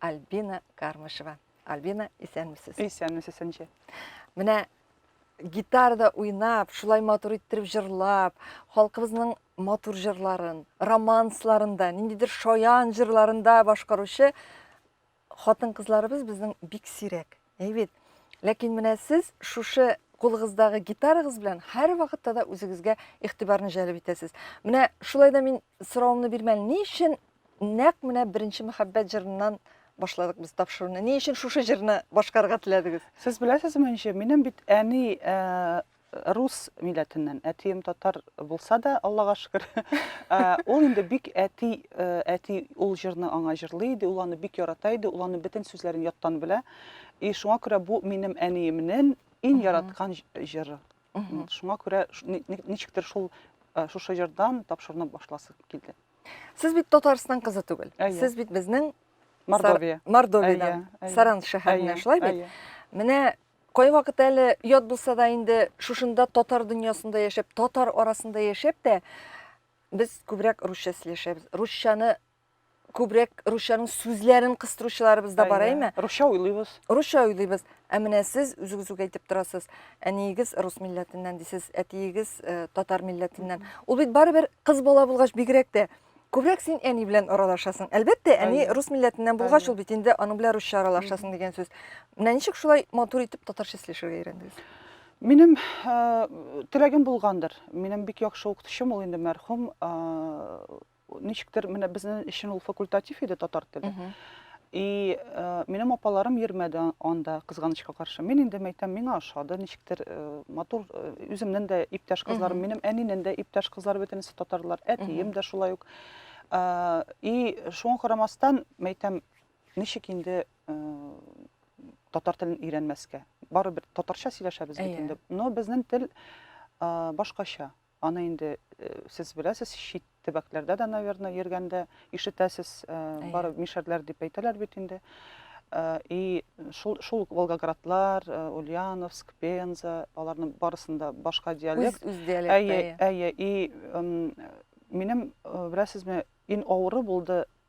Альбина Кармышева. Альбина, исәнмесез? Исәнмесез, Сәнче. Менә гитарда уйнап, шулай матур иттереп җырлап, халкыбызның матур җырларын, романсларында, ниндидер шаян җырларында башкаручы хатын-кызларыбыз безнең бик сирәк. Әйбит. Ләкин менә сез шушы кулыгыздагы гитарагыз белән һәрвакытта да үзегезгә игътибарны җәлеп итәсез. Менә шулай да мин соравымны бирмәле. Ни өчен нәкъ менә беренче мәхәббәт җырыннан башладык без тапшыруны? Ни өчен шушы җырны башкарырга теләдегез? Сез беләсезме ничек? Минем бит әни э, Рус милләтеннән. Әтием татар булса да, Аллага шөкер. Ул инде бик әти, әти ул җырны аңа җырлый иде, ул аны бик ярата иде, ул аның бөтен сүзләрен яттан белә. И шуңа күрә бу минем әниемнең иң яраткан җыры. Шуңа күрә ничектер шул шушы җырдан тапшыруны башласы килде. Сез бит Татарстан кызы түгел. Сез бит безнең Мордовия. Мордовиядән. Саран шәһәреннән, шулай бит? Менә Кайвакыт әле ят булса да инде шушында татар дөньясында яшәп, татар арасында яшәп тә без күбрәк русча сөйләшәбез. Русчаны күбрәк русчаның сүзләрен кыстыручыларыбыз да бар, әйме? Русча уйлыйбыз. Русча уйлыйбыз. Ә менә сез үзегез үк әйтеп торасыз, әниегез рус милләтеннән дисез, әтиегез э, татар милләтеннән. Ул бит барыбер кыз бала булгач бигрәк тә Күбрәк син әни белән аралашасың. Әлбәттә, әни Әйе. рус милләтеннән булгач, Әйе. ул бит инде аның белән русча аралашасың дигән сүз. Менә ничек шулай матур итеп татарча сөйләшергә өйрәндегез? Минем ә, теләгем булгандыр. Минем бик яхшы укытучым ул инде мәрхүм. ә, Ничектер менә безнең өчен ул факультатив иде татар теле. И минем апаларым йөрмәде анда, кызганычка каршы. Мин инде мәйтәм, миңа ошады, ничектер матур үземнең дә иптәш кызларым, минем әнинең дә иптәш кызлары бөтенесе татарлар, әтием дә шулай ук. И шуңа карамастан, мәйтәм, ничек инде татар телен өйрәнмәскә? Барыбер татарча сөйләшәбез бит инде. Но безнең тел башкача. Аны инде сез беләсез, чит төбәкләрдә дә, наверное, йөргәндә ишетәсез, бары мишәрләр дип әйтәләр бит инде. И шул шул Волгоградлар, Ульяновск, Пенза, аларның барысында башка диалект. Үз диалект. Әйе, әйе. И минем, беләсезме, ин авыры булды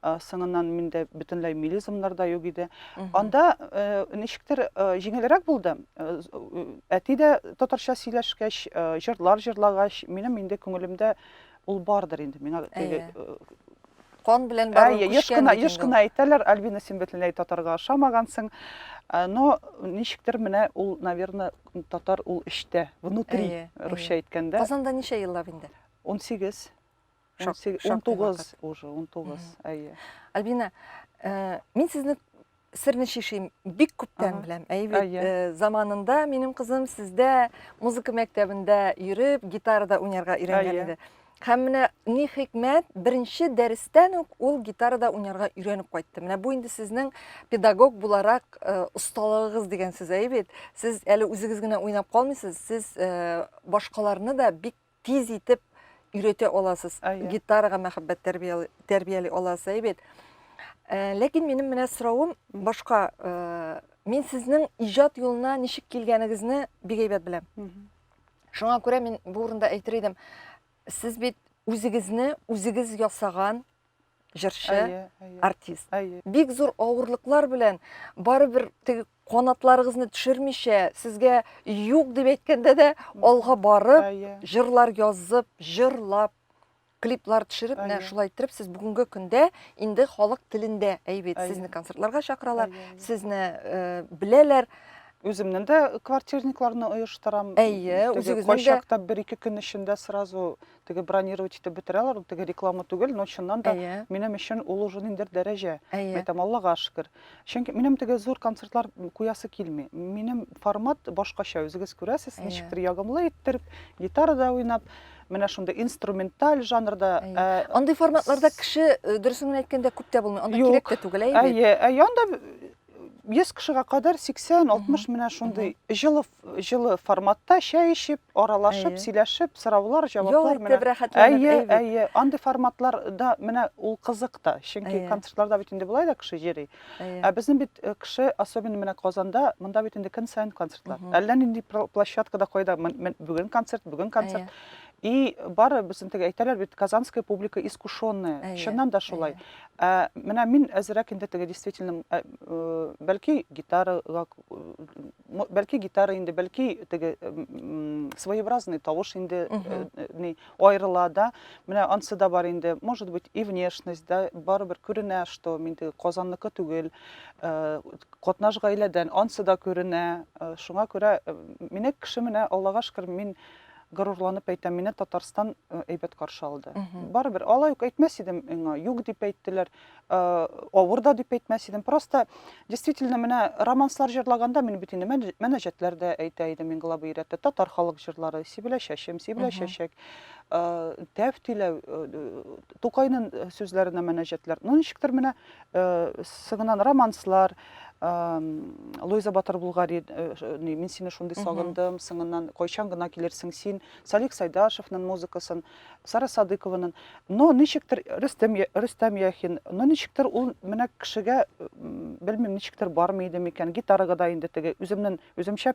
Э, соңыннан миндә бөтенләй мелизмнар да юк иде анда э, ничектер э, җиңелрәк булды әти дә татарча сөйләшкәч җырлар җырлагач минем инде күңелемдә ул бардыр инде миңа теге кан белән барып еш кына еш кына әйтәләр альбина син бөтенләй татарга ошамагансың но ничектер менә ул наверное татар ул эчтә внутри русча әйткәндә казанда ничә еллап инде 18 унтугыз уже унтугыз әйе альбина э, мин сезне серне шишим бик күптән беләм әйе э, заманында минем кызым сездә музыка мәктәбендә йөреп гитарада уйнарга өйрәнгән иде һәм менә ни хикмәт беренче дәрестән үк ул гитарада уйнарга өйрәнеп кайтты менә бу инде сезнең педагог буларак э, осталыгыгыз дигән сүз әйе бит сез әле үзегез генә уйнап калмыйсыз сез башкаларны да бик тиз итеп өйрәтә аласыз. Гитарага мәхәббәт тәрбияли, тәрбияли аласыз, әйбәт. Э, ләкин минем менә соравым башка. Э, мин сезнең иҗат юлына ничек килгәнегезне бик әйбәт беләм. Шуңа күрә мин бу урында әйтер идем, сез бит үзегезне үзегез ясаган җырчы, артист. Бик зур авырлыклар белән барыбер теге канатларыгызны төшермичә, сезгә юк дип әйткәндә дә алга барып, җырлар язып, җырлап, клиплар төшереп, менә шулай иттереп сез бүгенге көндә инде халык телендә әйбит. Сезне концертларга чакыралар, сезне э, беләләр. Үземнең дә квартирникларны оештырам. Әйе, үзегезнең дә. Кайчакта бер-ике көн эчендә сразу теге бронировать итеп бетерәләр, ул теге реклама түгел, но чыннан да Әйе. минем өчен ул уже ниндер дәрәҗә. Әйе. Әйтәм, Аллага шөкер. Чөнки минем теге зур концертлар куясы килми. Минем формат башкача, үзегез күрәсез, Әйе. ничектер ягымлы иттереп, гитарада уйнап, менә шундый инструменталь жанрда. Әйе. Ә, Андый форматларда кеше, э, дөресен генә әйткәндә, күп тә булмый. Анда Юк. кирәк тә түгел, әйе бит? Әйе, әйе, анда 100 кешегә кадәр 80-60 менә шундый җылы җылы форматта чәй эчеп, аралашып, сөйләшеп, сораулар, җаваплар менә. Әйе, әйе, андый форматларда менә ул кызык та, чөнки концертларда бит инде болай да кеше йөри. Ә безнең бит э, кеше, особенно менә Казанда, монда бит инде көн саен концертлар. Әллә нинди площадкада кайда бүген концерт, бүген концерт. И бары безнең теге әйтәләр бит, казанская публика искушенная. Чыннан да шулай. Ә менә мин әзерәк инде теге действительно, ә, э, бәлки гитарага, м, бәлки гитара инде, бәлки теге м, м, своеобразный тавыш инде э, э, ни, аерыла да. Менә ансы да бар инде. Может быть, и внешность, да, барыбер күренә, что мин теге Казанныкы түгел, э, катнаш гаиләдән, ансы да күренә. Э, Шуңа күрә э, мине кеше менә Аллага шөкер, мин Горурланып әйтәм, мине Татарстан әйбәт каршы алды. Барыбер алай ук әйтмәс идем миңа, юк дип әйттеләр, авыр да дип әйтмәс идем. Просто действительно менә романслар җырлаганда мин бит инде мәнәҗәтләр дә әйтә идем мин главы рәттә. Татар халык җырлары, Сибелә чәчем, Сибелә чәчәк, Тәф тиләү, Тукайның сүзләренә мәнәҗәтләр. Ну ничектер менә сыгынан романслар, Луиза Батыр Булгари, э, э, мин сине шундый сагындым, сыңыннан кайчан гына килерсең син, Салих Сайдашевның музыкасын, Сара Садыкованың, но ничектер Рөстәм Рөстәм Яхин, но ничектер ул менә кешегә белмим ничектер бармый иде микән, гитарага да инде теге үземнен үземчә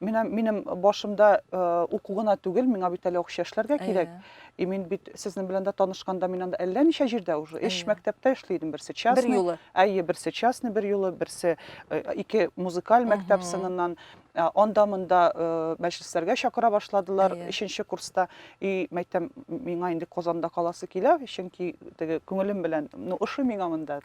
Менә минем башымда уку гына түгел, миңа бит әле акча эшләргә кирәк. И мин бит сезнең белән дә танышканда мин анда әллә ничә җирдә уже эш мәктәптә эшли идем, берсе частный. Бер юлы. Әйе, берсе частный бер юлы, берсе ике музыкаль мәктәп сыныннан анда монда мәҗлесләргә чакыра башладылар өченче курста и мәйтәм миңа инде казанда каласы килә чөнки теге күңелем белән ну ошый миңа монда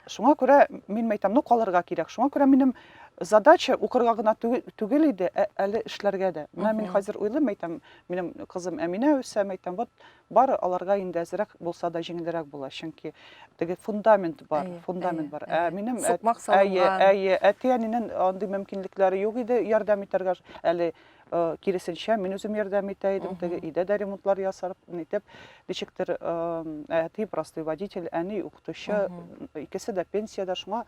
шуңа күрә мин мәйтәм ну калырга кирәк шуңа күрә минем задача укырга гына түгел иде, ә әле эшләргә дә. Менә мин хәзер уйлыйм, әйтәм, минем кызым Әминә үсә, әйтәм, вот бары аларга инде әзрәк булса да җиңелрәк була, чөнки теге фундамент бар, фундамент бар. Ә минем әйе, әйе, әти-әнинең андый мөмкинлекләре юк иде ярдәм итәргә әле киресенчә, мин үзем ярдәм итә идем, теге өйдә дә ремонтлар ясар итеп, ничектер әти простой водитель, әни укытучы, икесе дә пенсиядә, шуңа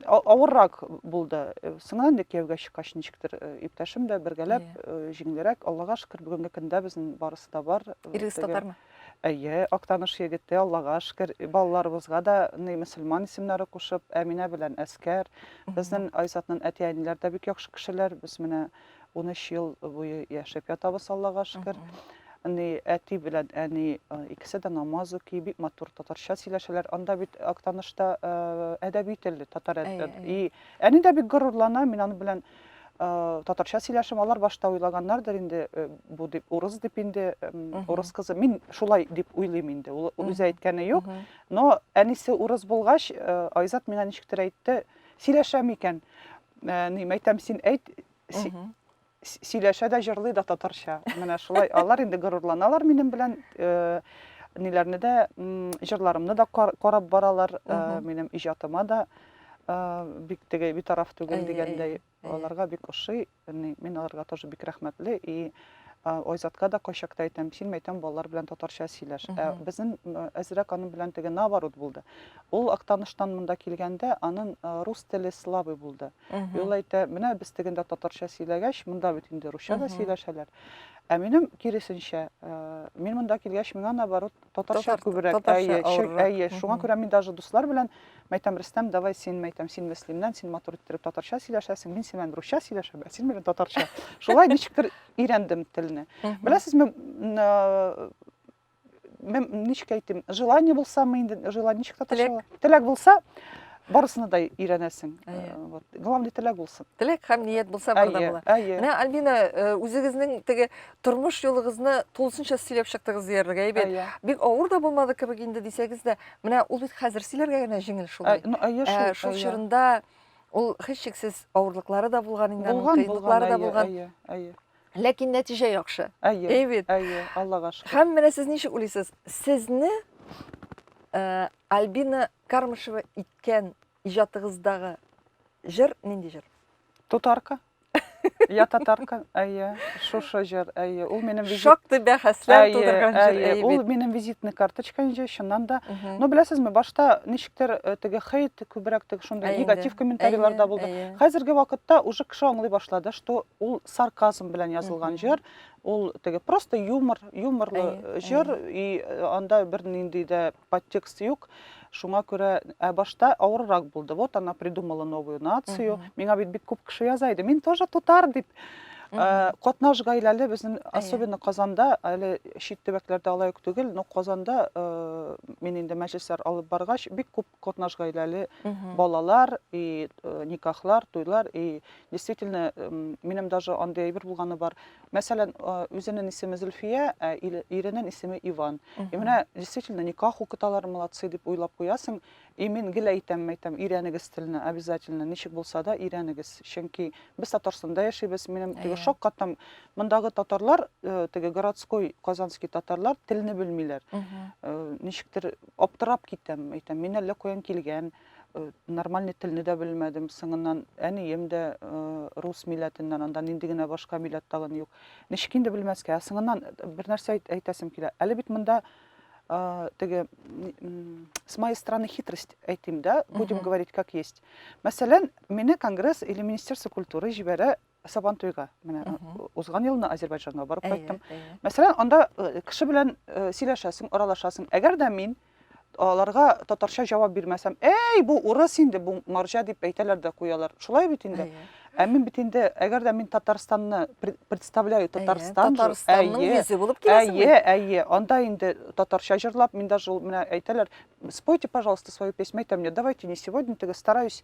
авыррак булды. Соңа инде кияүгә чыккач ничектер иптәшем дә бергәләп җиңелрәк. Аллага шөкер, бүгенге көндә безнең барысы да бар. Ирегез татармы? Әйе, Актаныш егете, Аллага шкер, балаларыбызга да ны мөселман исемнәре кушып, Әминә белән Әскәр. Безнен Айзатнын әти-әниләр дә бик яхшы кешеләр. Без менә унөч ел буе яшәп ятабыз, Аллага шкер. Ны әти белән әни икесе дә намаз уки, бик матур татарча сөйләшәләр. Анда бит Актанышта әдәби тел, татар әдә и әни дә бик горурлана, мин аны белән татарча сөйләшим алар башта уйлаганнардыр инде бу дип урыс дип инде урыс кызы мин шулай дип уйлыйм инде ул үзе әйткәне юк но әнисе урыс булгач айзат миңа ничектер әйтте сөйләшәм икән ни мәйтәм син әйт сөйләшә дә җырлый да татарча менә шулай алар инде горурланалар минем белән ниләрне дә җырларымны да карап баралар минем иҗатыма да бик теге битараф түгел дигәндәй аларга бик ошый мин аларга тоже бик рәхмәтле и Айзатка да кайчакта әйтәм, син мәйтәм балалар белән татарча сөйләш. Ә безнең әзрәк аның белән теге наоборот булды. Ул Актаныштан монда килгәндә аның рус теле слабый булды. И ул әйтә, менә без тегендә татарча сөйләгәч, монда бит инде русча да сөйләшәләр. Ә минем киресенчә, мин монда килгәч, миңа наоборот Татарча күбрәк, әйе, әйе. Шуңа күрә мин даже дуслар белән мәйтәм, Рөстәм, давай син мәйтәм, син Мөслимнән, син матур иттереп татарча сөйләшәсең, мин синнән русча сөйләшәм, ә син миннән татарча. Шулай ничектер өйрәндем телне. Беләсезме, мен ничек әйтим, желание булсамы инде, желание ничек татарча? Теләк булса, барысына да өйрәнәсең. Э, вот. Главный теләк булсын. Теләк һәм ният булса барда була. Менә Альбина, э, үзегезнең теге тормыш юлыгызны тулысынча сөйләп чыктыгыз диярлек әйбәт иә. бик авыр да булмады кебек инде дисәгез дә менә ул бит хәзер сөйләргә генә җиңел шулай ә, шул ә, чорында ул һичшиксез авырлыклары да булган инде аның кыенлыклары да булган ләкин нәтиҗә яхшы әйе бит әйе аллага шөкер һәм менә сез ничек уйлыйсыз сезне ә, альбина кармышева иткән иҗатыгыздагы җыр нинди җыр тутарка Я татарка, әйе, шушы җыр, әйе. Ул минем визит... Шактый бәхәсләр тудырган җыр, әйе. Ул минем визитный карточка инде, чыннан да. Но беләсезме, башта ничектер э, теге хейт күбрәк теге шундый негатив комментарийлар да булды. Хәзерге вакытта уже кеше аңлый башлады, что ул сарказм белән язылган җыр, ул теге просто юмор, юморлы җыр и э, анда бер нинди дә подтекст юк, шуңа күрә ә башта авыррак булды. Вот она придумала новую нацию. Миңа бит бик күп кеше яза иде. Мин тоже тутар дип. Э, катнаш гаиләле безнең особенно казанда әле чит төбәкләрдә алай ук түгел но казанда э, мин инде мәҗлесләр алып баргач бик күп катнаш гаиләле балалар и э, никахлар туйлар и действительно минем даже андый әйбер булганы бар Мәсәлән, үзенен исеме Зөлфия, ә иренен исеме Иван. И менә действительно никах укыталар, молодцы дип уйлап куясың. И мин гел әйтәм, әйтәм, өйрәнегез телне, обязательно, ничек булса да өйрәнегез. Чөнки без Татарстанда яшибез, минем теге шок каттым. Мондагы татарлар, э, теге городской казанский татарлар телне белмиләр. Э, ничектер аптырап китәм, әйтәм, мин әллә каян килгән. Э, нормальный телне дә белмәдем соңыннан әнием дә э, рус милләтеннән анда нинди генә башка милләт тагын юк ничек инде белмәскә соңыннан э, бер нәрсә әйтәсем килә әле бит монда теге с моей стороны хитрость әйтим да будем говорить как есть мәсәлән мине конгресс или министерство культуры җибәрә Сабантуйга менә узган елны Азербайҗанга барып кайттым. Мәсәлән, анда кеше белән сөйләшәсең, аралашасың. Әгәр дә мин аларга татарча җавап бирмәсәм, "Эй, бу урыс инде, бу марҗа" дип әйтәләр дә куялар. Шулай бит инде. Ә мин бит инде, әгәр дә мин Татарстанны представляю, Татарстан, Татарстанның йөзе булып киләсең. Әйе, әйе, анда инде татарча җырлап, мин даже менә әйтәләр, "Спойте, пожалуйста, свою песню". Әйтәм, "Давайте не сегодня, теге стараюсь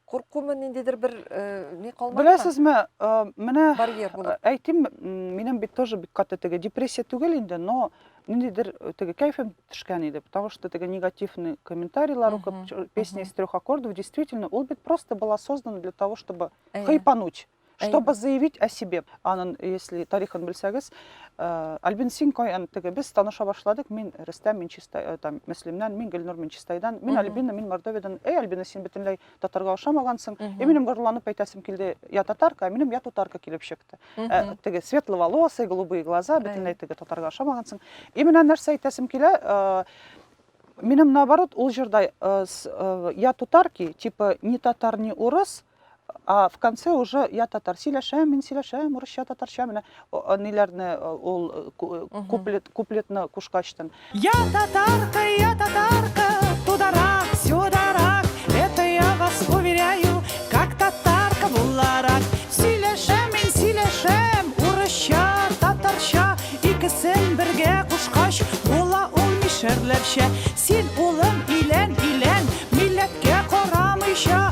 Куркумы ниндидер бер ни калмады? Беләсезме, менә барьер булып. Әйтим, минем бит тоже бик каты теге депрессия түгел инде, но ниндидер теге кайфым төшкән иде, потому что теге негативный комментарийлар укып, песня из трех аккордов, действительно, ул бит просто была создана для того, чтобы хайпануть. Чтобы заявить о себе, анын, если тарихын белсәгез, э, Альбин син каян теге без таныша башладык, мин Рөстәм, мин Чистай, э, там, Мөслимнән, мин Гөлнур, мин Чистайдан, мин Альбина, мин Мордовиядан. Эй, Альбина, син бөтенләй татарга ошамагансың. И минем горланып әйтәсем килде, я татарка, а минем я татарка килеп чыкты. Э, теге светловолосый, голубые глаза, бөтенләй теге татарга ошамагансың. И менә нәрсә әйтәсем килә, Минем наоборот, ул җырда я татарки, типа не татар, не урыс, А в конце уже я татар сөйләшәм, мин сөйләшәм, урысча, татарча менә ниләрне ул куплет куплетны кушкачтын. Я татарка, я татарка, тударак, сюдарак, это я вас уверяю, как татарка буларак. Сөйләшәм, мин сөйләшәм, урысча, татарча, икесен бергә кушкач, була ул мишәрләрчә. Син улым илән, илән, милләткә карамыйча,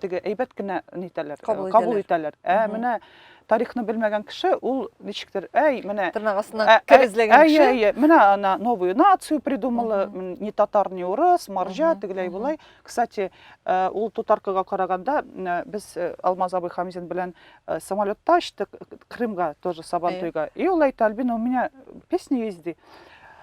теге әйбәт кенә нитәләр, кабул, кабул итәләр. Ә менә тарихны белмәгән кеше ул ничектер, әй, менә тырнак астына кер эзләгән кеше. Әй, әй, менә ана новую нацию придумала, не татар, не урыс, маржа, тегеләй булай. Кстати, ул тутаркыга караганда без Алмаз абый Хамзин белән самолетта очтык Крымга тоже Сабантуйга. И ул әйтә, Альбина, у меня песня есть, ди.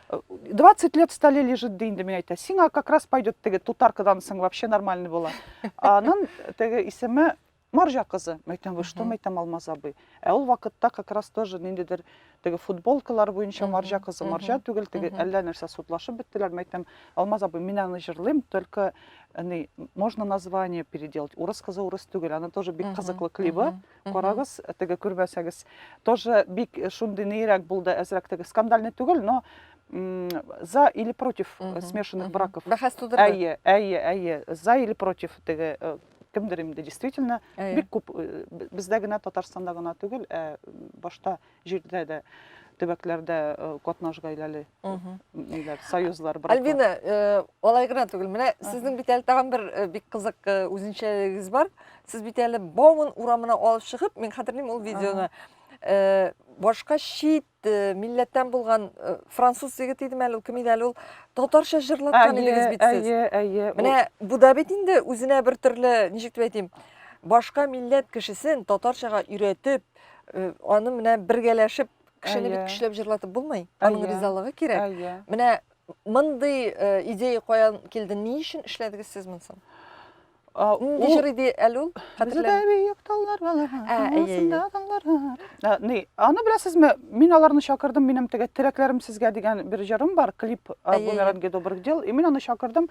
20 лет в столе лежит ди инде мин әйтә. Сиңа как раз пойдет теге тутаркадан соң вообще нормальный була. Анын теге исеме Маржа кызы. Мен әйтәм, вы что, мен әйтәм, Алмаз абый. Ә ул вакытта как раз тоже ниндидер теге футболкалар буенча Маржа кызы, Маржа түгел, теге әллә нәрсә судлашып беттеләр. Мен әйтәм, Алмаз абый, мин аны җырлыйм, только ни, можно название переделать. Урыс кызы урыс түгел, аны тоже бик кызыклы клибы. Карагыз, теге күрмәсәгез. Тоже бик шундый нейрәк булды, әзрәк теге скандальный түгел, но за или против смешанных браков. Бәхәс тудырды. Әйе, әйе, әйе. За или против теге кемдер инде действительно бик күп бездә генә Татарстанда гына түгел, ә башта җирдә дә төбәкләрдә э, катнаш гаиләле ниләр союзлар браклар альбина э, алай гына түгел менә сезнең бит әле тагын бер э, бик кызык үзенчәлегегез бар сез бит әле бауман урамына алып чыгып мин хәтерлим ул видеоны башка чит милләттән булган француз егет идеме әле ул кем иде әле ул татарча җырлаткан идегез бит сез әйе әйе менә бу да бит инде үзенә бер төрле ничек дип әйтим башка милләт кешесен татарчага өйрәтеп Э, аны менә бергәләшеп кешене бит көчләп җырлатып булмый. Аның ризалыгы кирәк. Менә мондый э, идея каян килде? Ни өчен эшләдегез сез монысын? Нинди җыр иде әле ул? Хәтерләмим. Бөек таллар балага. Аңсында таллар. Ни, аны беләсезме? Мин аларны чакырдым, минем теге теләкләрем сезгә дигән бер җырым бар, клип Бумеранги добрых дел. И мин аны чакырдым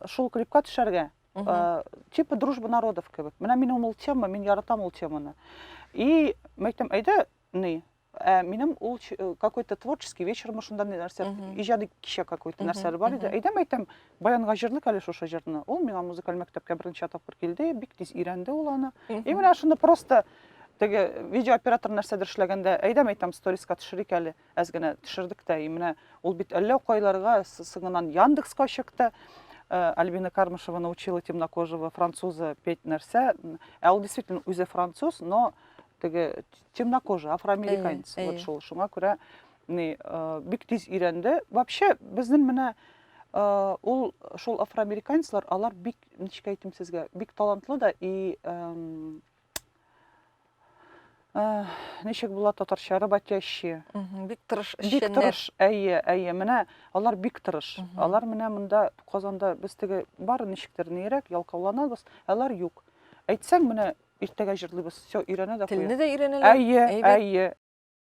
шул клипка төшәргә. Э, типа дружба народов кебек менә минем ул тема мин яратам ул теманы и мен әйтәм әйдә ни ә минем ул э, какой то творческий вечермы шунда нәрсә иҗади кичә какой то нәрсәләр бар иде әйдәм әйтәм баянга җырлыйк әле шушы җырны ул миңа музыкаль мәктәпкә берничә тапкыр килде бик тиз өйрәнде ул аны и менә шуны просто теге видеооператор нәрсәдер эшләгәндә әйдәм әйтәм сториска төшерик әле Әз генә төшердек тә, и менә ул бит әллә кайларга соңыннан Яндекска чыкты. Э, Альбина Кармышева научила темнокожего француза петь нәрсә. Ә ул действительно үзе француз, но теге темнокожий, афроамериканец. Вот шул. Шуңа күрә ни э, бик тиз өйрәнде. Вообще безнең менә э, ул шул афроамериканецлар, алар бик ничек әйтим сезгә, бик талантлы да и Э, ничек була татарча работящие бик тырыш бик тырыш әйе әйе менә алар бик тырыш алар менә монда казанда без теге бары ничектер нирәк ялкауланабыз алар юк әйтсәң менә иртәгә җырлыйбыз все өйрәнә дә телне дә өйрәнәләр әйе әйе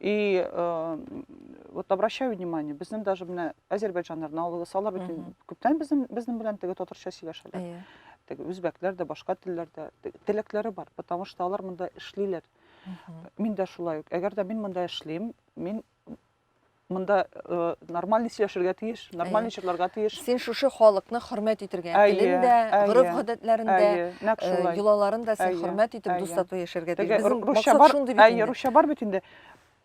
И э, вот обращаю внимание, безнең даже менә азербайджаннар, наулысы, алар бит күптән безнең безнең белән теге татарча сөйләшәләр. Әйе. Теге үзбәкләр дә, башка телләрдә теләкләре бар, потому что алар монда эшлиләр. Мин дә шулай ук. Әгәр дә мин монда эшлим, мин Монда э, нормально сөйләшергә тиеш, нормально чырларга тиеш. Син шушы халыкны хөрмәт итергә, телен дә, гореф-гадәтләрен дә, э, йолаларын да син хөрмәт итеп, дус тату яшәргә тиеш. Безнең максат шундый бит. Әйе, русча бар бит инде.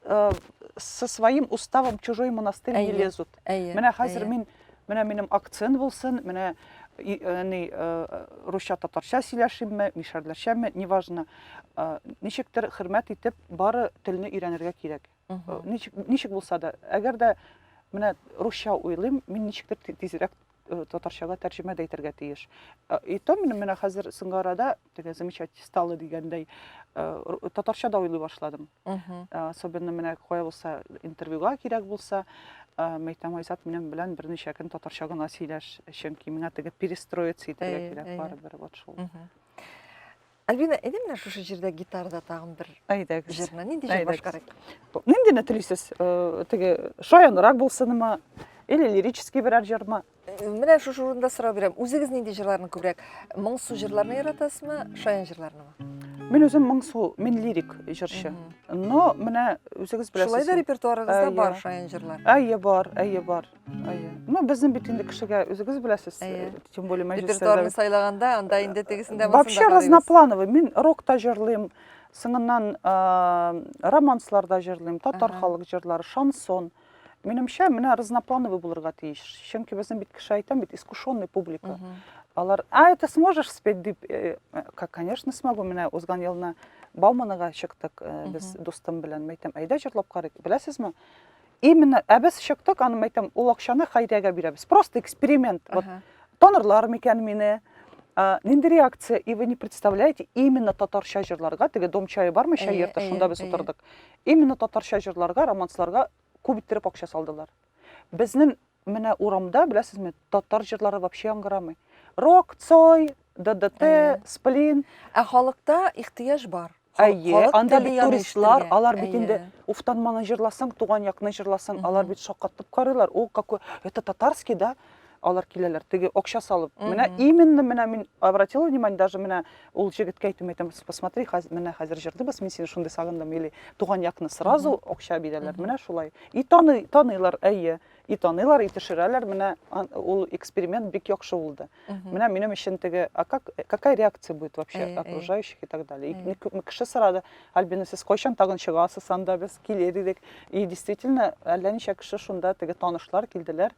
Э, со своим уставом чужой монастырь не лезут. Менә хәзер мин, менә минем акцент булсын, менә ни русча татарча сөйләшимме, мишәрләрчәме, неважно. Ничектер хөрмәт итеп, бары телне өйрәнергә кирәк. Э, ничек, ничек булса да әгәр дә менә русча уйлыйм мин ничектер тизрәк э, татарчага тәрҗемә дә итәргә тиеш э, и то менә хәзер соңгы арада теге замечать стало дигәндәй татарча да уйлый башладым особенно менә кая булса интервьюга кирәк булса мәйтәм айзат минем белән берничә көн татарча гына сөйләш чөнки миңа теге перестроиться итәргә кирәк барыбер вот шул Альбина, әйдә менә шушы җирдә гитарада тагын бер Әйдәгез. җырны нинди җыр Әйдәгез. башкарыйк? Ниндине телисез? Э, Теге шаянрак булсынмы? Или лирический берәр җырмы? Менә шушы урында сорау бирәм. Үзегез нинди җырларны күбрәк? Моңсу җырларны яратасызмы, шаян җырларнымы? Мин үзем моңсу, мин лирик җырчы. Но менә үзегез Шулай да беләсез. репертуарыгызда Ә, бар иә. шаян җырлар. Әйе бар, әйе бар. Әйе. Ну, безнең бит инде кешегә үзегез беләсез, э, тем более мәҗлесләрдә. Репертуарны сайлаганда, анда инде тегесен дә Вообще разноплановый. Мин рок та җырлыйм, соңыннан э, романслар да җырлыйм, татар халык җырлары, шансон. Минемчә, менә разноплановый булырга тиеш. Чөнки безнең бит кеше әйтәм бит, искушенный публика. Алар, а, это сможешь спеть дип, э, как, конечно, смогу. Менә узган елны Бауманыга чыктык без дустым белән. Мәйтәм, әйдә җырлап карыйк. Беләсезме? Именно, ә без чыктык, аны әйтәм, ул акчаны Хайрәгә бирәбез. Просто эксперимент. Вот, танырлар микән мине? А, нинди реакция? И вы не представляете, именно татарча җырларга, теге дом чайы бармы, чай йорты, шунда без утырдык. Именно татарча җырларга, романсларга күп иттереп акча салдылар. Безнең Менә урамда, беләсезме, татар җырлары вообще яңгырамый. Рок, Цой, ДДТ, Сплин. Ә халыкта ихтыяҗ бар. Әйе, анда бит туристлар, алар бит инде Уфтанманы җырласаң, туган якны җырласаң, алар бит шаккатып карыйлар. О, какой, это татарский, да? Алар киләләр, теге акча салып. Менә именно менә мин обратила внимание, даже менә Ул җегеткә әйтүем әйтәм, посмотри, хәз, менә хәзер җырлыйбыз, мин сине шундый сагындым, или туган якны сразу акча бирәләр, менә шулай. И таный, таныйлар, әйе, и таныйлар, и төшерәләр, менә ул эксперимент бик яхшы булды. Менә минем өчен теге, а как, какая реакция будет вообще окружающих и так далее. И күпме кеше сорады, Альбина, сез кайчан тагын чыгасыз анда, без килер идек. И действительно, әллә ничә кеше шунда теге танышлар килделәр,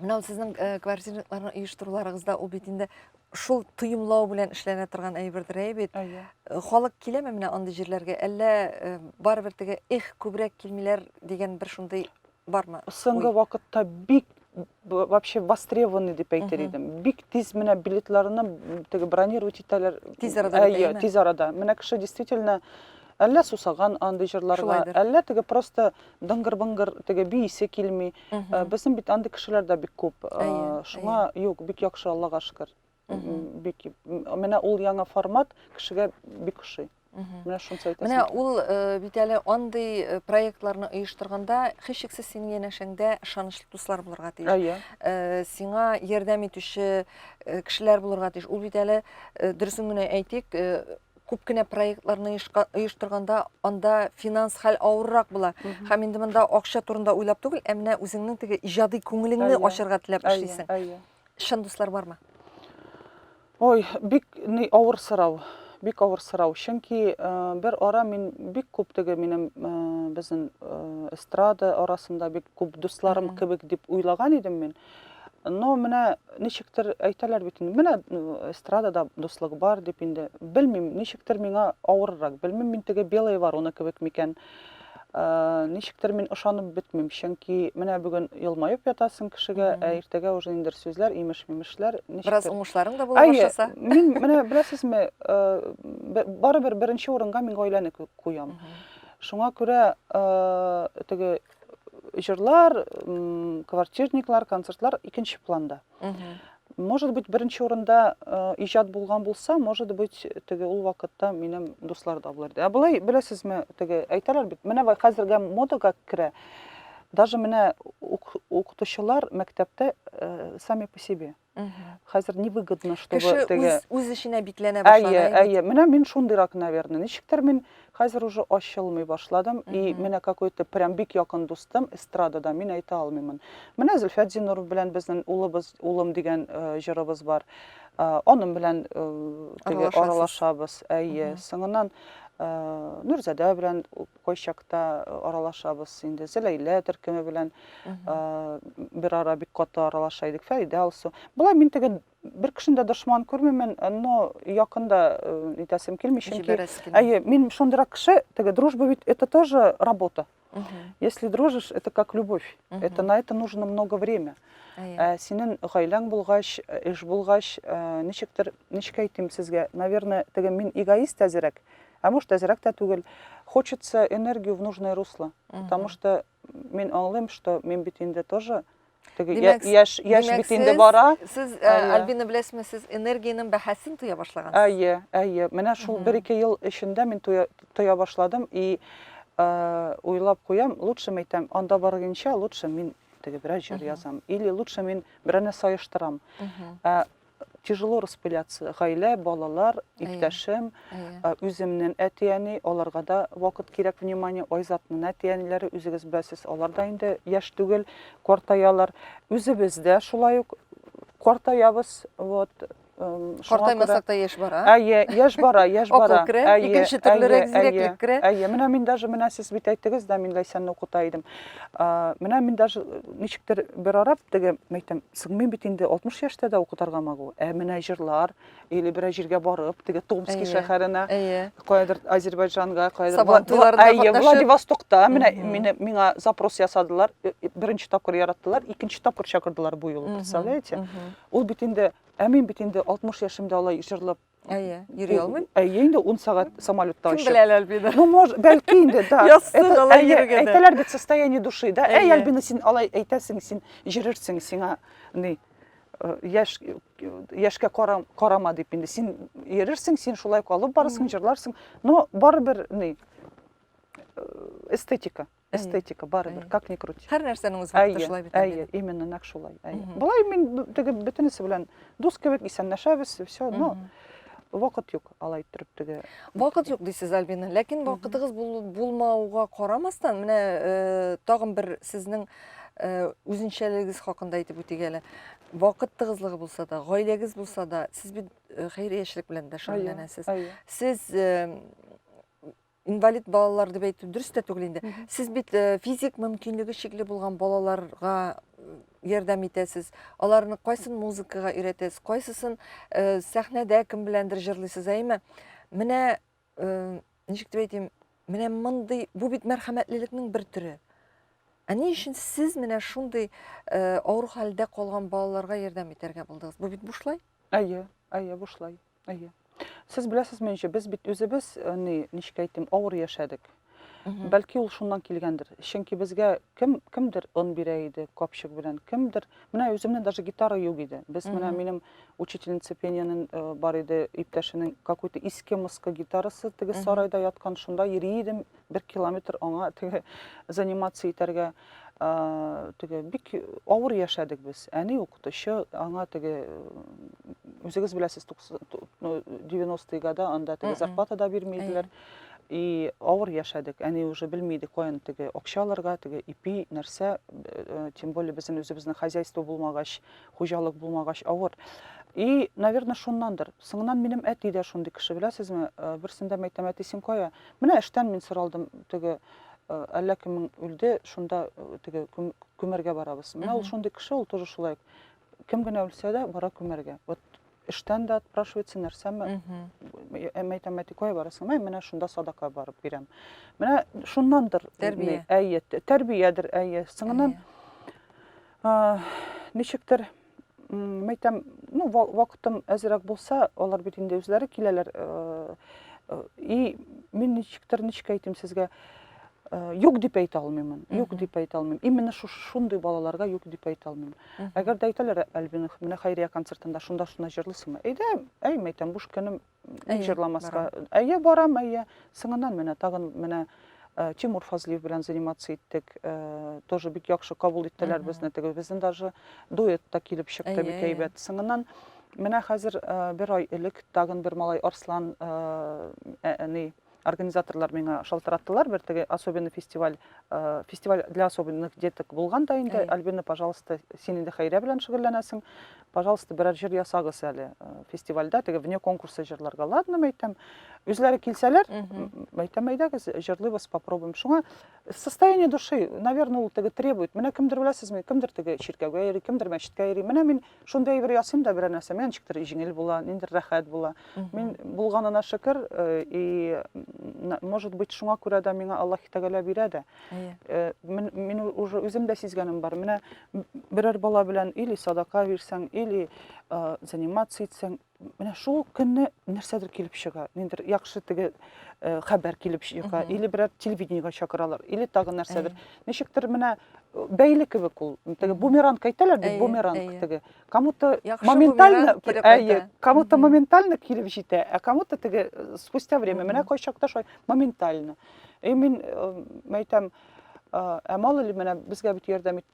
Менә сезнең э, квартираларны оештыруларыгызда ул бит инде шул тоемлау белән эшләнә торган әйбердер әй бит. Әйе. Э, халык киләме менә андый җирләргә? Әллә э, барыбер теге эх күбрәк килмиләр дигән бер шундый бармы? Соңгы вакытта бик вообще востребованный дип әйтер идем. Бик тиз менә билетларны теге бронировать итәләр. Тиз арада. Әйе, тиз арада. Менә кеше действительно әллә сусаган андый җырларга, әллә теге просто Дыңгыр-быңгыр теге биисе килми. Э, Безнең бит андый кешеләр дә бик күп. Э, Әйе, Шуңа юк, бик яхшы, Аллага шөкер. Бик менә ул яңа формат кешегә бик ошый. Менә шунысы әйтәсем. Менә ул э, бит әле андый э, проектларны оештырганда һичшиксез синең янәшәңдә ышанычлы дуслар булырга тиеш. Әйе. Э, Сиңа ярдәм итүче э, кешеләр булырга тиеш. Ул бит әле э, дөресен генә әйтик, э, күп кенә проектларны оештырганда анда финанс хәл авыррак була һәм инде монда акча турында уйлап түгел ә менә үзеңнең теге иҗади күңелеңне ачарга теләп эшлисең чын дуслар бармы ой бик ни авыр сорау бик авыр сорау чөнки э, бер ара мин бик күп теге минем э, безнең э, эстрада арасында бик күп дусларым кебек дип уйлаган идем мин Но менә ничектер әйтәләр бит инде, менә эстрадада дуслык бар дип инде. Белмим, ничектер миңа авыррак. Белмим, мин теге белая ворона кебек микән. Ә, ничектер мин ышанып бетмим, чөнки менә бүген елмаеп ятасың кешегә, ә иртәгә уже инде сүзләр, имеш-мимешләр, ничектер. Бераз уңышларың да була башласа. Мин менә беләсезме, э, барыбер беренче урынга мин гаиләне куям. Шуңа күрә э, теге җырлар квартирниклар концертлар икенче планда может быть беренче урында э, иҗат булган булса может быть теге ул вакытта минем дуслар да булыр ә болай беләсезме теге әйтәләр бит менә хәзергә модага керә даже менә укытучылар мәктәптә э, сами по себе хәзер невыгодно чтобы кеше теге үз, үз эченә бикләнә башлады әйе әйе менә мин шундыйрак наверное ничектер мин хәзер уже ачылмый башладым и менә какой то прям бик якын дустым эстрадада мин әйтә алмыймын менә зөлфәт зинуров белән безнең улыбыз улым дигән э, җырыбыз бар э, аның белән э, теге аралашабыз әйе соңыннан Э, нурзада белән Кайчакта аралашабыз инде. Зәләйлә төркеме белән бер ара бик каты аралаша идек. Фәридә Алсу. Болай мин теге бер кешене дә дошман күрмимен, но якында итәсем килми, чөнки әйе, мин шундыйрак кеше, теге дружба бит это тоже работа. Если дружишь, это как любовь. Это на это нужно много время. Ә синең гаиләң булгач, эш булгач, ничектер, ничек әйтим сезгә, наверное, теге мин эгоист әзерәк. Ә может әзерәк тә түгел. Хочется энергию в нужное русло. Потому что мин аңлыйм, что мин бит инде тоже теге яшь яшь бит инде бара. Сез Альбина беләсезме, сез энергиянең бәһасен тоя башлагансыз. Әйе, әйе. Менә шул 1-2 ел эчендә мин тоя башладым и уйлап куям, лучше мәйтәм, анда баргынча лучше мин теге бераз җыр язам или лучше мин берәне саештырам. тяжело распыляться. Гаилә, балалар, иптәшем, үземнен әти-әни, аларга да вакыт кирәк, внимание, Айзатның әти-әниләре, үзегез беләсез, алар да инде яшь түгел, картаялар. Үзебез дә шулай ук картаябыз, вот, Картаймасак та яшь бара. Әйе, яшь бара, яшь бара. Акыл керә, икенче төрлерәк зирәклек керә. Әйе, менә мин даже менә сез бит әйттегез дә, мин Ләйсәнне укыта идем. Менә мин даже э, ничектер бер арап теге мәйтәм, сыгмыйм бит инде 60 яшьтә дә укытырга магу. Ә менә җырлар или бер җиргә барып, теге Томский шәһәренә, каядыр Азербайҗанга, каядыр Владивостокта менә мине миңа запрос ясадылар, э, э, беренче тапкыр яраттылар, икенче тапкыр чакырдылар бу юлы, представляете? Ул бит инде, ә мин бит инде 60 яшемдә алай җырлап Әйе, йөри алмыйм. Әйе, инде 10 сәгать самолетта очып. Кем беләләр бит? Ну, может, бәлки инде, да. Яссын алай йөргәдә. Әйтәләр бит состояние души, да? Әй, Альбина, син алай әйтәсең, син җирерсең, сиңа ни э, яшь яшькә карам, карама дип инде. Син йөрерсең, син шулай калып барасың, җырларсың, но барыбер ни э, эстетика. эстетика барыбер как ни крути һәр нәрсәнең үз вакыты шулай бит әйе именно нәкъ шулай әйе болай мин теге бөтенесе белән дус кебек исәнләшәбез все но вакыт юк алай иттереп теге вакыт юк дисез альбина ләкин вакытыгыз булмауга карамастан менә э, тагын бер сезнең э, үзенчәлегегез хакында әйтеп үтик әле вакыт тыгызлыгы булса да гаиләгез булса да сез бит э, хәйриячелек белән дә шөгыльләнәсез сез инвалид балалар дип әйтү дөрес тә түгел инде. Сез бит э, физик мөмкинлеге чикле булган балаларга э, ярдәм итәсез. Аларны кайсын музыкага өйрәтәсез, кайсысын э, сәхнәдә кем беләндер җырлыйсыз, әйме? Менә ничек дип әйтим, менә мондый бу бит мәрхәмәтлелекнең бер төре. Ә ни өчен сез менә шундый авыр хәлдә калган балаларга ярдәм итәргә булдыгыз? Бу бит бушлай? Әйе, әйе, бушлай. Әйе. Сез беләсезме ничә, без бит үзебез, э, ни, ничек әйтим, авыр яшәдек. Бәлки ул шуннан килгәндер. Чөнки безгә кем кемдер он бирә иде капчык белән, кемдер. Менә үземне даже гитара юк иде. Без менә минем учительница пениянең э, бар иде, иптәшенең какой-то иске-мыскы гитарасы теге сарайда яткан, шунда йөри идем. бер километр аңа теге занимация итәргә теге бик авыр яшәдек без әни укытучы аңа теге үзегез беләсез девяностые года анда теге зарплата да бирмәделәр и авыр яшәдек әни уже белмиде каян теге акча алырга теге ипи нәрсә э, тем более безнең үзебезнең хозяйство булмагач хуҗалык булмагач авыр и наверное шуннандыр соңыннан минем әти дә шундый кеше беләсезме э, берсендә мәйтәм әти син кая Менә эштән мин соралдым, теге әллә кемең үлде, шунда теге күмәргә барабыз. Менә ул шундый кеше, ул тоже шулай. Кем генә үлсә дә, бара күмәргә. Вот эштән дә отпрашивается, нәрсәме? Әмә әйтәм, әти, кая барасың? Мә, менә шунда садака барып бирәм. Менә шуннандыр. Тәрбия. Әйе, тәрбиядер, әйе. Сыңыннан ничектер Мәйтәм, ну, вакытым әзерәк булса, алар бит инде үзләре киләләр. Э, э, и мин ничектер, ничек әйтим сезгә, э, юк дип әйтә алмыймын. Юк дип әйтә алмыйм. Именно шундый балаларга юк дип әйтә алмыйм. Әгәр дә әйтәләр, Альбина, менә Хайрия концертында шунда шуна җырлыйсыңмы? Әйдә, әй, мәйтәм, буш көнем, Ник Әйе, җырламаска? барам. Әйе, барам, әйе. Соңыннан менә тагын менә э, Тимур Фазлиев белән заниматься иттек. Э, Тоже бик яхшы кабул иттеләр Мгм. безне. Теге безнең даже дуэт та килеп чыкты Әйе, бик әйе. әйбәт. Соңыннан менә хәзер э, бер ай элек тагын бер малай Арслан э, ә- әни организаторлар миңа шалтыраттылар бер теге особенный фестиваль э, фестиваль для особенных деток булган да инде альбина пожалуйста син инде хәйрә белән шөгыльләнәсең пожалуйста берәр җыр ясагыз әле э, фестивальдә теге вне конкурса җырларга ладно мәйтәм үзләре килсәләр мәйтәм әйдәгез җырлыйбыз попробуем шуңа состояние души наверное ул теге требует менә кемдер беләсезме кемдер теге чиркәүгә йөри кемдер мәчеткә йөри менә мин Шундый әйбер ясыйм да берәр нәрсә, миңа ничектер җиңел була, ниндер рәхәт була. Мин булганына шөкер, э, и может быть шуңа күрә дә миңа Аллаһ Тәгалә бирә дә. Э, мин уже үзем дә сизгәнем бар. Менә берәр бала белән или садака бирсәң, или э, заниматься итсәң, менә шул көнне нәрсәдер килеп чыга ниндидер яхшы теге э, хәбәр килеп чыга или берәр телевидениегә чакыралар или тагы нәрсәдер ничектер менә э, бәйле кебек ул теге бумеранг әйтәләр бит бумеранг теге кому то моментально әйе кому то моментально килеп җитә ә кому то теге э, спустя время менә кайчакта шулай моментально и мин әйтәм ә мало ли менә безгә бит ярдәм итте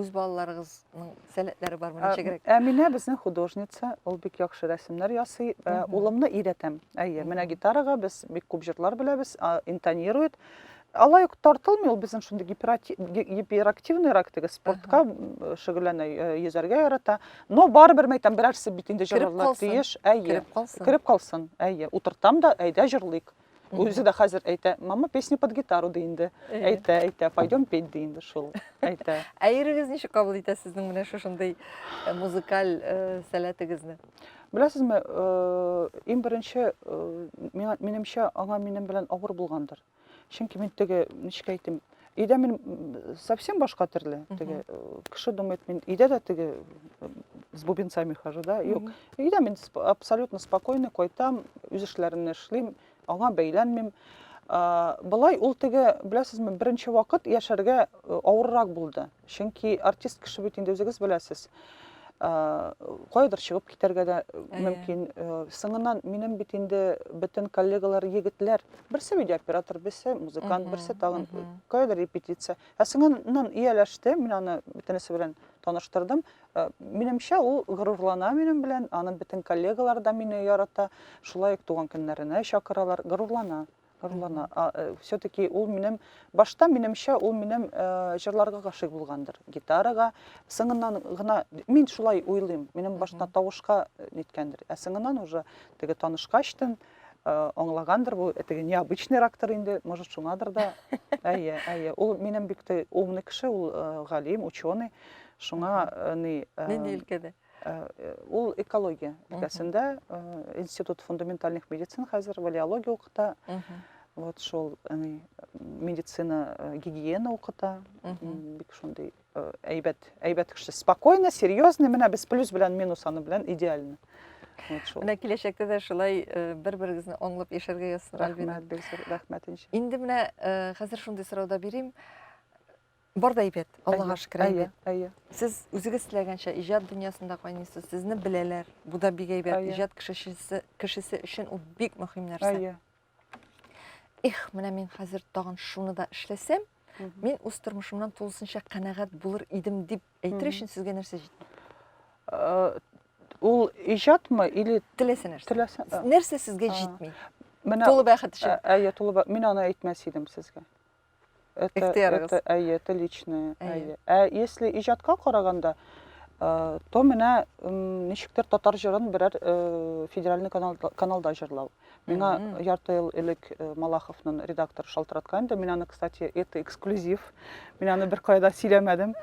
Үз балаларыгызның сәләтләре бармы ничегрәк? Әминә безнең художница, ул бик яхшы рәсемнәр ясый. Э, улымны өйрәтәм. Әйе, менә гитарага без бик күп җырлар беләбез, интонирует. Алай ук тартылмый, ул безнең шундый гиперактивныйрак теге спортка шөгыльләнә, э, йөзәргә ярата. Но барыбер мәйтәм, берәрсе бит инде җырларлар тиеш. Әйе, кереп калсын. Әйе, утыртам да, әйдә җырлыйк. Үзе дә хәзер әйтә, мама песню под гитару ди инде. Әйтә, әйтә, пойдем петь ди инде шул. Әйтә. Ә ирегез ничек кабул итә сезнең менә шушындый э, музыкаль э, сәләтегезне? Беләсезме, э, иң беренче минемчә аңа минем белән авыр булгандыр. Чөнки мин теге, ничек әйтим, Өйдә мин совсем башка төрле. Теге кеше думает, мин өйдә дә теге с бубенцами хожу, да? Юк. Өйдә мин абсолютно спокойно кайтам, үз эшләремне эшлим, аңа бәйләнмим. Былай ул теге, беләсезме, беренче вакыт яшәргә авыррак булды. Чөнки артист кеше бит инде үзегез беләсез. Кайдыр чыгып китәргә дә мөмкин. Соңыннан минем бит инде бөтен коллегалар егетләр, берсе видеооператор, берсе музыкант, берсе тагын кайдыр репетиция. Ә соңыннан ияләште, мин аны бөтенесе белән таныштырдым. Минемчә, ул горурлана минем белән, аның бөтен коллегалары да мине ярата. Шулай ук туган көннәренә чакыралар, горурлана. Ырлана. А, э, все-таки ул минем башта минемчә ул минем э, җырларга гашыйк булгандыр. Гитарага сыңыннан гына мин шулай уйлыйм. Минем башта тавышка э, ниткәндер. Ә сыңыннан уже теге танышкачтын э, аңлагандыр бу теге необычный рактор инде, может шуңадыр да. Әйе, әйе. Ул минем бик тә умный кеше, ул э, галим, ученый. Шуңа э, ни э, Нинди өлкәдә? Э, э, ул экология өлкәсендә э, институт фундаментальных медицин хәзер валиология укыта вот шул медицина гигиена укыта бик шундый әйбәт әйбәт кеше спокойно серьезно менә без плюс белән минус аны белән идеально менә киләчәктә дә шулай бер берегезне аңлап яшәргә язсын рәхмәт рәхмәт инде менә хәзер шундый сорау да бирим Бар да әйбәт, Аллага шөкер әйбәт. Әйе, әйе. Сез үзегез теләгәнчә иҗат дөньясында кайныйсыз, сезне беләләр. Бу да бик әйбәт. Иҗат кешесе кешесе өчен ул бик мөһим нәрсә. Әйе. Эх, менә мин хәзер тагын шуны да эшләсәм, мин үз тормышымнан тулысынча канәгать булыр идем дип әйтер өчен сезгә нәрсә җитми? Э, ул иҗатмы или теләсә нәрсә? Теләсә. Нәрсә сезгә җитми? Менә тулы бәхет өчен. Әйе, тулы бәхет. Мин аны әйтмәс идем сезгә. это, это, әйе, это личное. Әйе. Ә если иҗатка караганда, э, то менә ничектер татар җырын берәр э, федеральный канал, каналда җырлау. Миңа ярты ел элек э, Малаховның редактор шалтыраткан инде. Мин аны, кстати, это эксклюзив. Мин аны бер кайда сөйләмәдем.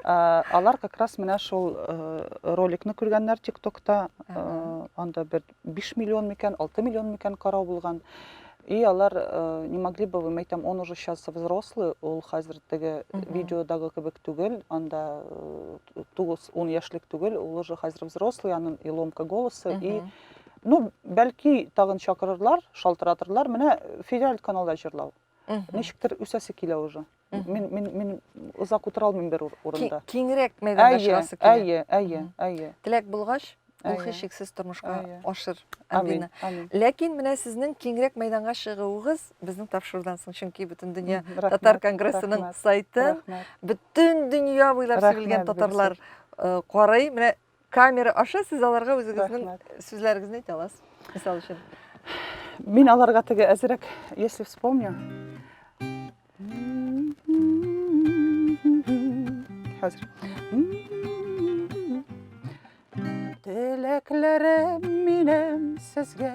Э, алар как раз менә шул э, роликны күргәннәр ТикТокта. Анда бер 5 миллион микән, 6 миллион микән карау булган. И алар э, не могли бы вы, мәйтәм, он уже сейчас взрослый, ул хәзер теге видеодагы кебек түгел, анда э, тугыз, он яшьлек түгел, ул уже хәзер взрослый, анын и ломка голосы, и ну, бәлки тагын чакырырлар, шалтыратырлар, менә федераль каналда җырлау. Ничектер үсәсе килә уже. Мин мин мин озак утыра алмыйм бер урында. Киңрәк мәйданда чыгасы килә. Әйе, әйе, әйе. Теләк булгач, ул һичшиксез тормышка ашыр, Альбина. Ләкин менә сезнең киңрәк мәйданга чыгуыгыз безнең тапшырудан соң, чөнки бөтен дөнья татар конгрессының сайтын бөтен дөнья буйлап сибелгән татарлар карый. Менә камера аша сез аларга үзегезнең сүзләрегезне әйтә аласыз. Мисал өчен. Мин аларга теге әзрәк, если вспомню. Хәзер. Теләкләрем минем сезгә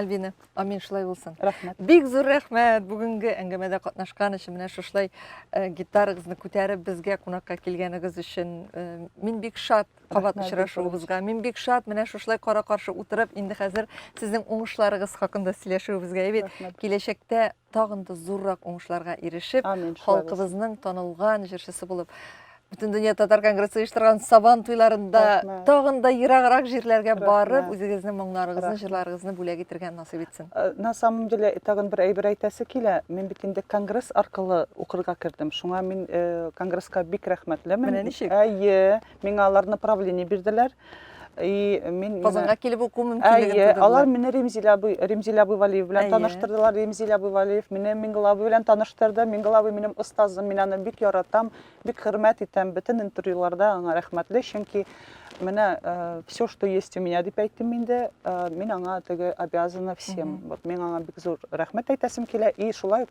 Альбина, амин шулай булсын. Рәхмәт. Бик зур рәхмәт бүгенге әңгәмәдә катнашкан өчен, менә шушылай э, гитарагызны күтәреп безгә кунакка килгәнегез өчен. Э, мин бик шат кабат очрашуыбызга. Мин бик шат менә шушылай кара-каршы утырып, инде хәзер сезнең уңышларыгыз хакында сөйләшүебезгә. Әйбәт, киләчәктә тагын да зуррак уңышларга ирешеп, халкыбызның танылган җырчысы булып, бөтен дөнья татар конгрессы оештырган Сабан туйларында тагын да ераграк җирләргә барып, үзегезнең моңнарыгызны, җырларыгызны бүләк итергә насыйп итсен. Э, на самом деле, тагын бер әйбер әйтәсе килә. Мин бит инде конгресс аркылы укырга кердем. Шуңа мин э, конгресска бик рәхмәтлемен. Менә ничек? Әйе. миңа алар направление бирделәр и мин казанга килеп уку мөмкинлеген әйе алар мине ремзилә абый ремзилә абый валиев белән таныштырдылар ремзилә абый валиев мине миңгол абый белән таныштырды миңгол абый минем остазым мин аны бик яратам бик хөрмәт итәм бөтен интервьюларда аңа рәхмәтле чөнки менә э, все что есть у меня дип әйттем инде э, мин аңа теге обязана всем вот мин аңа бик зур рәхмәт әйтәсем килә и шулай ук